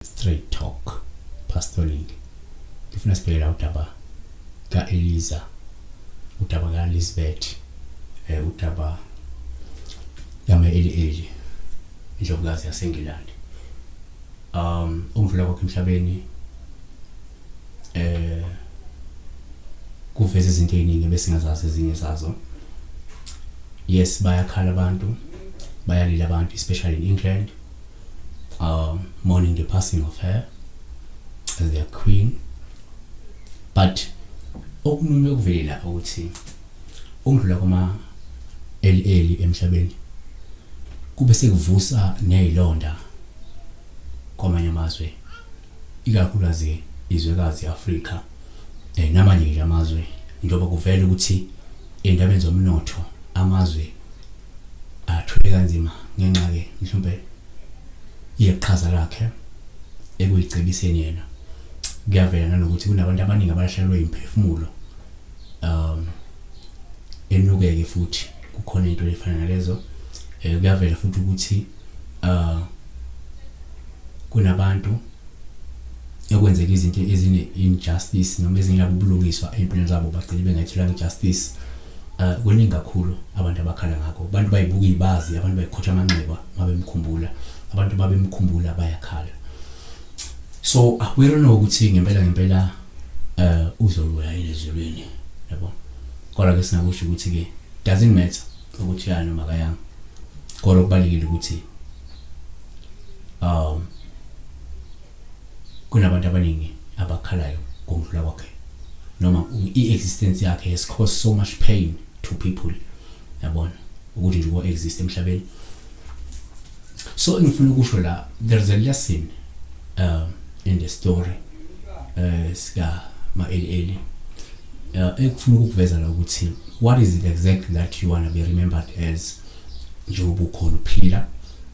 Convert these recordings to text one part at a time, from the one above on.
Straight talk. Pastoring. Ngifuna sibhekela udaba ka Eliza. Udaba ka Elizabeth. Eh udaba yama eli eli. Indlovukazi yaseNgilandi. Um umvula kwakhe emhlabeni eh kuveza izinto eziningi besingazazi ezinye zazo. Yes bayakhala abantu. Bayalila abantu especially in England. uh, mourning the passing of her as their queen but okunye okuvelela ukuthi ukudlula kwama eli emhlabeni kube sekuvusa nezilonda kwamanye amazwe ikakhulukazi izwekazi Afrika eh namanye nje amazwe njengoba kuvela ukuthi endabeni zomnotho amazwe athule kanzima ngenxa ke mhlawumbe yeqhaza lakhe ekuyicebiseni yena kuyavela nanokuthi kunabantu abaningi abalahlekelwe imphefumulo um enukeke futhi kukhona into efana nalezo eh, kuyavela futhi ukuthi uh kunabantu ekwenzeka izinto ezine injustice noma ezingabe ubulungiswa empilweni zabo bagcine bengathola injustice Uh, kuningi kakhulu abantu abakhala ngakho abantu bayibuka ibazi abantu bayikhotha amanxeba mabemkhumbula abantu babemkhumbula bayakhala so awero no ukuthi ngempela ngempela uh uzobuya ezulwini yabo kodwa ke singakusho ukuthi ke doesn't matter ukuthi ya noma kayanga kodwa kubalekile ukuthi um Kunabantu abaningi abakhalayo ngokudlula kwakhe noma i-existence yakhe has caused so much pain to people yabona ukuthi nje uko-exist emhlabeni so engifuna ukusho la there is a lesson um, in the story uh, sika ma-eli-eli uh, engifuna ukukuveza la ukuthi what is it exactly that you want to be remembered as njengoba ukhona uphila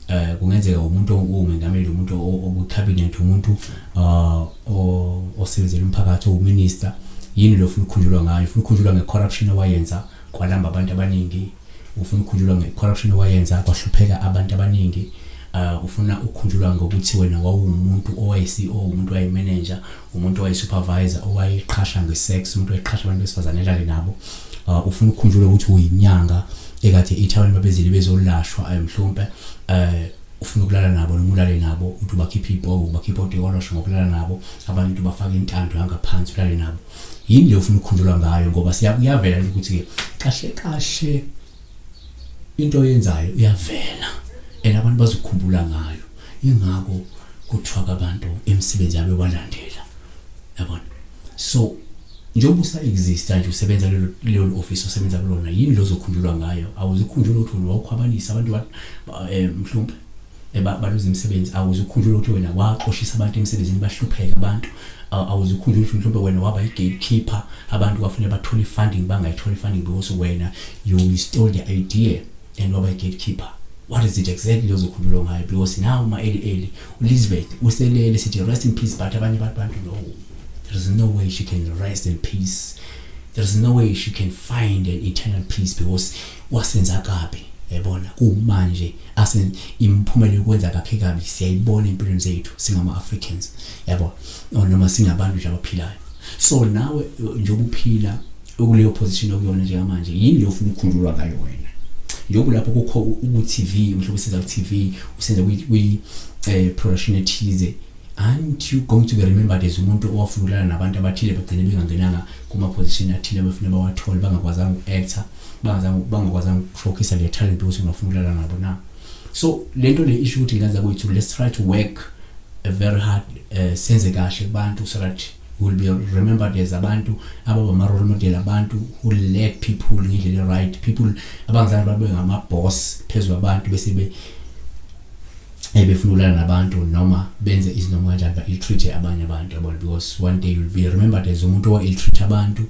eh kungenzeka umuntu ongumengameli umuntu obucabinet umuntu ah, osebenzela umphakathi owuminister yini lo ufuna ukukhunjulwa ngayo ufuna ukukhunjulwa ngecorruption owayenza kwalamba abantu abaningi ufuna ukukhunjulwa ngecorruption owayenza kwahlupheka abantu abaningi ah, ufuna ukukhunjulwa ngokuthi wena wawumuntu owaye-CEO umuntu waye-manager umuntu owayesupervisor owayeqhasha ngesex umuntu owayeqhasha abantu besifazane elale nabo uh, ufuna ukukhunjulwa ukuthi uyinyanga ekade ithi abantu babezile bezolashwa eh, mhlawumpe um eh, ufuna ukulala nabo noma ulale nabo uthi ubakhiphe ibhobo ubakhiphe odekolosho ngokulala nabo abanye uthi ubafake intando yangaphansi ulale nabo yini le ufuna ukukhunjulwa ngayo ngoba siyakuyavela ukuthi-ke kahle kahle into oyenzayo iyavela and abantu bazokhumbula ngayo ingakho kuthiwa abantu imisebenzi yabo balandela yabona so njengoba usa exista nje usebenza lelo lelo office osebenza kulona yini lozokhunjulwa ngayo awuzikhunjula ukuthi wawukhwabanisa abantu eh, mhlawumbe baluza imisebenzi awuzukhunjula ukuthi wena waxoshisa abantu emsebenzini bahlupheka abantu awuzukhunjula ukuthi mhlawumbe wena waba i-gatekeeper abantu kwafanele bathole i-funding bangayitholi i-funding because wena you stole the idea and waba i-gatekeeper what is it exactly ozokhululwa ngayo because now uma eli eli uLizbeth uselele sithi rest in peace but abanye abantu no there is no way she can rest in peace there is no way she can find an eternal peace because wasenza kabi yabona kumanje asen imphumela yokwenza kakhe kabi siyayibona empilweni zethu singama Africans yabo noma singabantu nje abaphilayo so nawe njengoba uphila ukuleyo position okuyona njengamanje yini leyo ufuna ukukhunjulwa ngayo wena njengoba lapho kukho uTV mhlawumbe usenza uTV usenza kwi eh production ethize aren't you going to be remembered as umuntu owafunulana nabantu abathile bagcine bengangenanga kuma position athile befuna bawathole bangakwazanga uku-actor bangakwazanga ukushowcase le talent ukuthi ngafuna ukulala nabo na so lento le issue ukuthi ngenza kwethu let's try to work a very hard uh, senze kahle kubantu so that will be remembered as abantu ababa ma role model abantu who led people ngendlela right people abangizange babe ngama boss phezulu abantu bese be eh, befuna ukulala nabantu noma benze izinoma kanjani ba ill treat abanye abantu yabona because one day you'll be remembered as umuntu owa ill treat abantu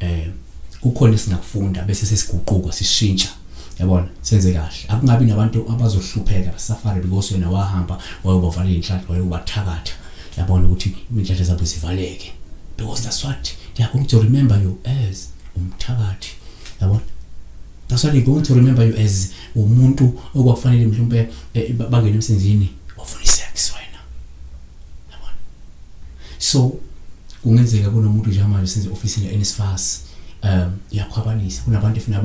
eh kukhona esingakufunda bese sesiguquko sishintsha yabona senze kahle akungabi nabantu abazohlupheka basafare because wena wahamba wayobavala inhlanhla wayobathakatha yabona ukuthi inhlanhla zabo zivaleke because that's what they are going to remember you as umthakathi yabona that's what they are going to remember you as umuntu okwakufanele mhlawumbe eh, eh, bangene emsenzini wafuna isex wena yabona so kungenzeka kunomuntu njengamanje senze ofisini eNSFAS um iyakhwabanisa kunabantu efuna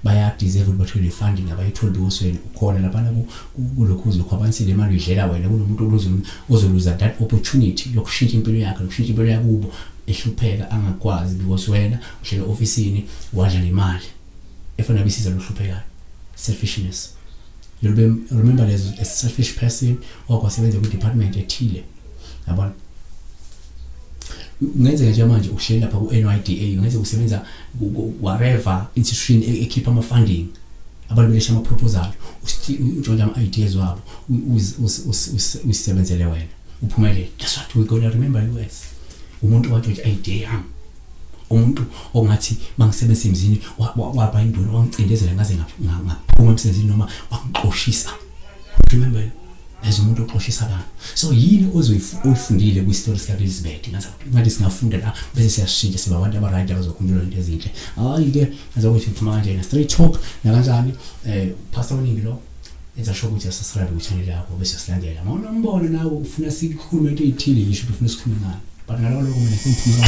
bayadeserve ukuthi bathole funding abayitholi bewusweni ukhona laphana kulokhu uzokhwabanisile imali uyidlela wena kunomuntu ozoluza that opportunity yokushintsha impilo yakhe nokushintsha impilo yakubo ehlupheka angakwazi because wena uhlela ofisini wadla nemali efuna bisiza lohluphekayo selfishness you remember there's a selfish person or kwasebenza kwi-department ethile yabona kungenzeka nje manje uhleli lapha ku-NYDA kungenzeka usebenza whatever institution e-, ekhipha ama-funding abantu belesha ama-proposal utshontsha ama-ideas wabo usisebenzele wena uphumelele that's what we gonna remember you as umuntu owatshontsha i-idea yami umuntu ongathi bangisebenzisa emzini waba induna wangicindezela ngaze ngaphuma emsebenzini noma wangixoshisa remember as umuntu oxoshisa abantu so yini ozoyifundile kwistori sikaelizabeth ngathi singafunda la bese siyashintsha siba abantu abarayidi abazokhunjulwa into ezinhle hhayi-ke azokuthi uphuma kanjena straight talk nakanjani um pastor oningi lo enza sho ukuthi asasirabi kwichanel yakho bese silandela ma unombono nawe ufuna sikhulume into eyithile yisho ukuthi ufuna sikhulume ngani but ngaloko loko mina sengiphuma